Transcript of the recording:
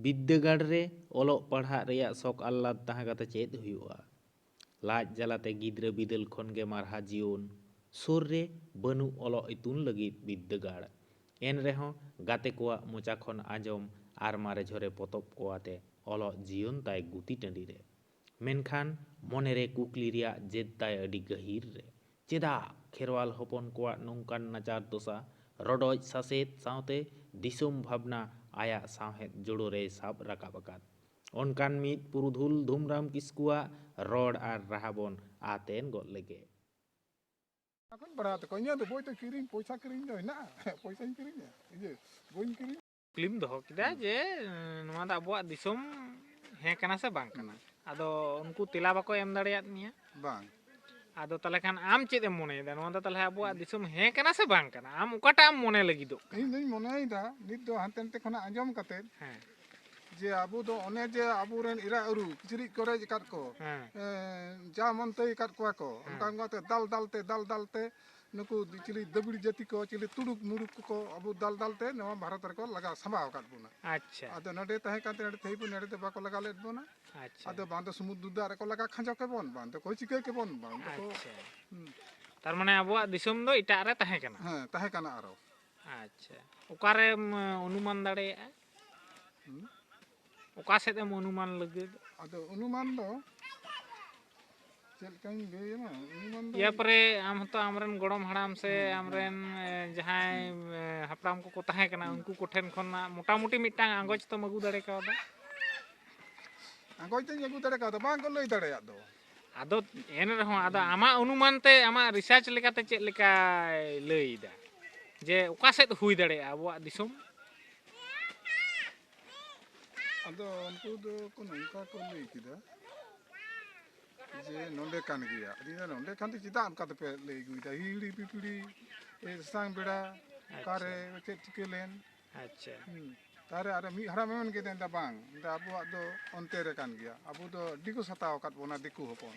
ᱵᱤᱫᱽᱫᱟᱹᱜᱟᱲ ᱨᱮ ᱚᱞᱚᱜ ᱯᱟᱲᱦᱟᱜ ᱨᱮᱭᱟᱜ ᱥᱚᱠ ᱟᱞᱞᱟᱫᱽ ᱛᱟᱦᱮᱸ ᱠᱟᱛᱮ ᱪᱮᱫ ᱦᱩᱭᱩᱜᱼᱟ? ᱞᱟᱡ ᱡᱟᱞᱟ ᱛᱮ ᱜᱤᱫᱽᱨᱟᱹ ᱵᱤᱫᱟᱹᱞ ᱠᱷᱚᱱ ᱜᱮ ᱢᱟᱨᱦᱟ ᱡᱤᱭᱚᱱ᱾ ᱥᱩᱨ ᱨᱮ ᱵᱟᱹᱱᱩᱜ ᱚᱞᱚᱜ ᱤᱛᱩᱱ ᱞᱟᱹᱜᱤᱫ ᱵᱤᱫᱽᱫᱟᱹᱜᱟᱲ᱾ ᱮᱱ ᱨᱮᱦᱚᱸ ᱜᱟᱛᱮ ᱠᱚᱣᱟᱜ ᱢᱚᱪᱟ ᱠᱷᱚᱱ ᱟᱸᱡᱚᱢ ᱟᱨ ᱢᱟᱨᱮ ᱡᱷᱚᱨᱮ ᱯᱚᱛᱚᱵ ᱠᱚ ᱟᱛᱮ ᱚᱞᱚᱜ ᱡᱤᱭᱚᱱ ᱛᱟᱭ ᱜᱩᱛᱤ ᱴᱟᱺᱰᱤ ᱨᱮ᱾ ᱢᱮᱱᱠᱷᱟᱱ ᱢᱚᱱᱮ ᱨᱮ ᱠᱩᱠᱞᱤ ᱨᱮᱭᱟᱜ ᱡᱮᱫ ᱛᱟᱭ ᱟᱹᱰᱤ ᱜᱟᱹᱦᱤᱨ ᱨᱮ᱾ ᱪᱮᱫᱟᱜ ᱠᱷᱮᱨᱣᱟᱞ ᱦᱚᱯᱚᱱ ᱠᱚᱣᱟᱜ ᱱᱚᱝᱠᱟᱱ ᱱᱟᱪᱟᱨ ᱫᱚᱥᱟ? ᱨᱚᱰᱚᱡ ᱥᱟᱥᱮᱛ ᱥᱟᱶᱛᱮ ᱫᱤᱥᱚᱢ ᱵᱷᱟᱵᱽᱱᱟ ᱟᱭᱟᱜ ᱥᱟᱶᱦᱮᱫ ᱡᱳᱲᱳ ᱨᱮᱭ ᱥᱟᱵ ᱨᱟᱠᱟᱵ ᱟᱠᱟᱫ ᱚᱱᱠᱟᱱ ᱢᱤᱫ ᱯᱩᱨᱩᱫᱷᱩᱞ ᱫᱷᱩᱢᱨᱟᱢ ᱠᱤᱥᱠᱩᱣᱟᱜ ᱨᱚᱲ ᱟᱨ ᱨᱟᱦᱟ ᱵᱚᱱ ᱟᱛᱮᱱ ᱜᱚᱫ ᱞᱮᱜᱮ᱾ ᱚᱱᱟ ᱠᱚᱧ ᱯᱟᱲᱦᱟᱣ ᱛᱟᱠᱚᱣᱟ ᱤᱧᱟᱹᱜ ᱫᱚ ᱵᱳᱭ ᱫᱚ ᱠᱤᱨᱤᱧ ᱯᱚᱭᱥᱟ ᱠᱤᱨᱤᱧ ᱫᱚ ᱦᱮᱱᱟᱜᱼᱟ ᱯᱚᱭᱥᱟᱧ ᱠᱤᱨᱤᱧᱟ ᱤᱭᱟᱹ ᱵᱳᱭᱤᱧ ᱠᱤᱨᱤᱧᱟ᱾ ᱠᱩᱠᱞᱤᱢ ᱫᱚᱦᱚ ᱠᱮᱫᱟ ᱡᱮ ᱱᱚᱣᱟ ᱫᱚ ᱟᱵᱚᱣᱟᱜ ᱫᱤᱥᱚᱢ ᱦᱮᱸ ᱠᱟᱱᱟ ᱥᱮ ᱵᱟᱝ ᱠᱟᱱᱟ ᱟᱫᱚ ᱩᱱᱠᱩ ᱛᱮᱞᱟ ᱵᱟᱠᱚ ᱮᱢ ᱫᱟᱲᱮᱭᱟᱫ ᱢᱮᱭᱟ ᱵᱟᱝ ᱟᱫᱚ ᱛᱟᱦᱚᱞᱮ ᱠᱷᱟᱱ ᱟᱢ ᱪᱮᱫ ᱮᱢ ᱢᱚᱱᱮᱭᱮᱫᱟ ᱱᱚᱣᱟ ᱫᱚ ᱛᱟᱦᱚᱞᱮ ᱟᱵᱚᱣᱟᱜ ᱫᱤᱥᱚᱢ ᱦᱮᱸ ᱠᱟᱱᱟ ᱥᱮ ᱵᱟᱝ ᱠᱟᱱᱟ ᱟᱢ ᱚᱠᱟᱴᱟᱜ ᱮᱢ ᱢᱚᱱᱮ ᱞᱟᱹᱜᱤᱫᱚᱜ ᱠᱟᱱᱟ ᱤᱧ ᱫᱚᱧ ᱢᱚᱱᱮᱭᱮᱫᱟ ᱱᱤᱛ ᱫᱚ ᱦᱟᱱᱛᱮ ᱱᱟᱛᱮ ᱠᱷᱚᱱᱟᱜ ᱟᱸᱡᱚᱢ ᱠᱟᱛᱮ ᱦᱮᱸ ᱡᱮ ᱟᱵᱚ ᱫᱚ ᱚᱱᱮ ᱡᱮ ᱟᱵᱚᱨᱮᱱ ᱤᱨᱟ ᱟᱹᱨᱩ ᱠᱤᱪᱨᱤᱡ ᱠᱚᱨᱮ ᱟᱠᱟᱫ ᱠᱚ ᱦᱮᱸ ᱡᱟ ᱢᱚᱱᱛᱮᱭ ᱟᱠᱟᱫ ᱠᱚᱣᱟ ᱠᱚ ᱚᱱᱠᱟ ᱚᱱᱠᱟᱛᱮ ᱫᱟᱞ ᱫᱟᱞᱛᱮ ᱫᱟᱞ ᱫᱟᱞᱛᱮ ᱱᱩᱠᱩ ᱪᱤᱞᱤ ᱫᱟᱹᱵᱤᱲ ᱡᱟᱹᱛᱤ ᱠᱚ ᱪᱤᱞᱤ ᱛᱩᱲᱩᱠ ᱢᱩᱲᱩᱠ ᱠᱚᱠᱚ ᱟᱵᱚ ᱫᱟᱞ ᱫᱟᱞ ᱛᱮ ᱱᱚᱣᱟ ᱵᱷᱟᱨᱚᱛ ᱨᱮᱠᱚ ᱞᱟᱜᱟᱣ ᱥᱟᱢᱵᱟᱣ ᱟᱠᱟᱫ ᱵᱚᱱᱟ ᱟᱪᱪᱷᱟ ᱟᱫᱚ ᱱᱚᱰᱮ ᱛᱟᱦᱮᱸ ᱠᱟᱱᱛᱮ ᱱᱚᱰᱮ ᱛᱮᱦᱮᱧ ᱵᱚᱱ ᱱᱚᱰᱮ ᱫᱚ ᱵᱟᱠᱚ ᱞᱟᱜᱟᱣ ᱞᱮᱫ ᱵᱚᱱᱟ ᱟᱪᱪᱷᱟ ᱟᱫᱚ ᱵᱟᱝ ᱫᱚ ᱥᱩᱢᱩᱫᱨᱩ ᱫᱟᱜ ᱨᱮᱠᱚ ᱞᱟᱜᱟ ᱠᱷᱟᱸᱡᱚ ᱠᱮᱵᱚᱱ ᱵᱟᱝ ᱫᱚᱠᱚ ᱪᱤᱠᱟᱹ ᱠᱮᱵᱚᱱ ᱵᱟᱝ ᱫᱚᱠᱚ ᱟᱪᱪᱷᱟ ᱦᱩᱸ, ᱛᱟᱨ ᱢᱟᱱᱮ ᱟᱵᱚᱣᱟᱜ ᱫᱤᱥᱚᱢ ᱫᱚ ᱮᱴᱟᱜ ᱨᱮ ᱛᱟᱦᱮᱸ ᱠᱟᱱᱟ ᱦᱮᱸ ᱛᱟᱦᱮᱸ ᱠᱟᱱᱟ ᱟᱨᱚ ᱟᱪᱪᱷᱟ ᱚᱠᱟᱨᱮᱢ ᱚᱱᱩᱢᱟᱱ ᱫᱟᱲᱮᱭᱟᱜᱼᱟ ᱦᱩᱸ, ᱚᱠᱟ ᱥᱮᱫ ᱮᱢ ᱚᱱᱩᱢᱟᱱ ᱞᱟᱹᱜᱤᱫ ᱟᱫᱚ ᱚᱱᱩᱢᱟᱱ ᱫᱚ ᱪᱮᱫ ᱞᱮᱠᱟᱧ ᱞᱟᱹᱭᱟᱢᱟ ᱚᱱᱩᱢᱟᱱ ᱫᱚ ᱤᱭᱟᱹ ᱯᱚᱨᱮ ᱟᱢ ᱦᱚᱸᱛᱚ ᱟᱢᱨᱮᱱ ᱜᱚᱲᱚᱢ ᱦᱟᱲᱟᱢ ᱥᱮ ᱟᱢᱨᱮᱱ ᱡᱟᱦᱟᱸᱭ ᱦᱟᱯᱲᱟᱢ ᱠᱚᱠᱚ ᱛᱟᱦᱮᱸ ᱠᱟᱱᱟ ᱩᱱᱠᱩ ᱠᱚᱴᱷᱮᱱ ᱠᱷᱚᱱᱟᱜ ᱢᱚᱴᱟᱢᱩᱴᱤ ᱢᱤᱫᱴᱟᱝ ᱟᱸᱜᱚᱪ ᱛᱚᱢ ᱟᱹᱜᱩ ᱫᱟᱲᱮ ᱠᱟᱣᱫᱟ ᱟᱸᱜᱚᱪ ᱫᱚᱧ ᱟᱹᱜᱩ ᱫᱟᱲᱮ ᱠᱟᱣᱫᱟ ᱵᱟᱝ ᱠᱚ ᱞᱟᱹᱭ ᱫᱟᱲᱮᱭᱟᱜ ᱫᱚ ᱟᱫᱚ ᱮᱱ ᱨᱮᱦᱚᱸ ᱟᱫᱚ ᱟᱢᱟᱜ ᱚᱱᱩᱢᱟᱱ ᱛᱮ ᱟᱢᱟᱜ ᱨᱤᱥᱟᱨᱪ ᱞᱮᱠᱟᱛᱮ ᱪᱮᱫ ᱞᱮᱠᱟᱭ ᱞᱟᱹᱭᱫᱟ ᱡᱮ ᱚᱠᱟ ᱥᱮᱫ ᱦᱩᱭ ᱫᱟᱲᱮᱭᱟᱜᱼᱟ ᱟᱵᱚᱣᱟᱜ ᱫᱤᱥᱚᱢ ᱟᱫᱚ ᱩᱱᱠᱩ ᱫᱚ ᱠᱚ ᱱᱚᱝᱠᱟ ᱠᱚ ᱞᱟᱹᱭ ᱠᱮᱫᱟ ᱡᱮ ᱱᱚᱰᱮ ᱠᱟᱱ ᱜᱮᱭᱟ ᱟᱫᱚ ᱱᱚᱰᱮ ᱠᱷᱟᱱ ᱫᱚ ᱪᱮᱫᱟᱜ ᱚᱱᱠᱟ ᱫᱚᱯᱮ ᱞᱟᱹᱭ ᱟᱹᱜᱩᱭᱮᱫᱟ ᱦᱤᱦᱤᱲᱤ ᱯᱤᱯᱤᱲᱤ ᱥᱟᱥᱟᱝ ᱵᱮᱲᱟ ᱚᱠᱟᱨᱮ ᱪᱮᱫ ᱪᱤᱠᱟᱹ ᱞᱮᱱ ᱟᱪᱪᱷᱟ ᱛᱟᱨᱮ ᱟᱨ ᱢᱤᱫ ᱦᱟᱲᱟᱢ ᱢᱮᱱ ᱠᱮᱫᱟ ᱢᱮᱱᱫᱟ ᱵᱟᱝ ᱢᱮᱱᱫᱟ ᱟᱵᱚᱣᱟᱜ ᱫᱚ ᱚᱱᱛᱮ ᱨᱮ ᱠᱟᱱ ᱜᱮᱭᱟ ᱟᱵᱚ ᱫᱚ ᱟᱹᱰᱤ ᱠᱚ ᱥᱟᱛᱟᱣ ᱟᱠᱟᱫ ᱵᱚᱱᱟ ᱫᱤᱠᱩ ᱦᱚᱯᱚᱱ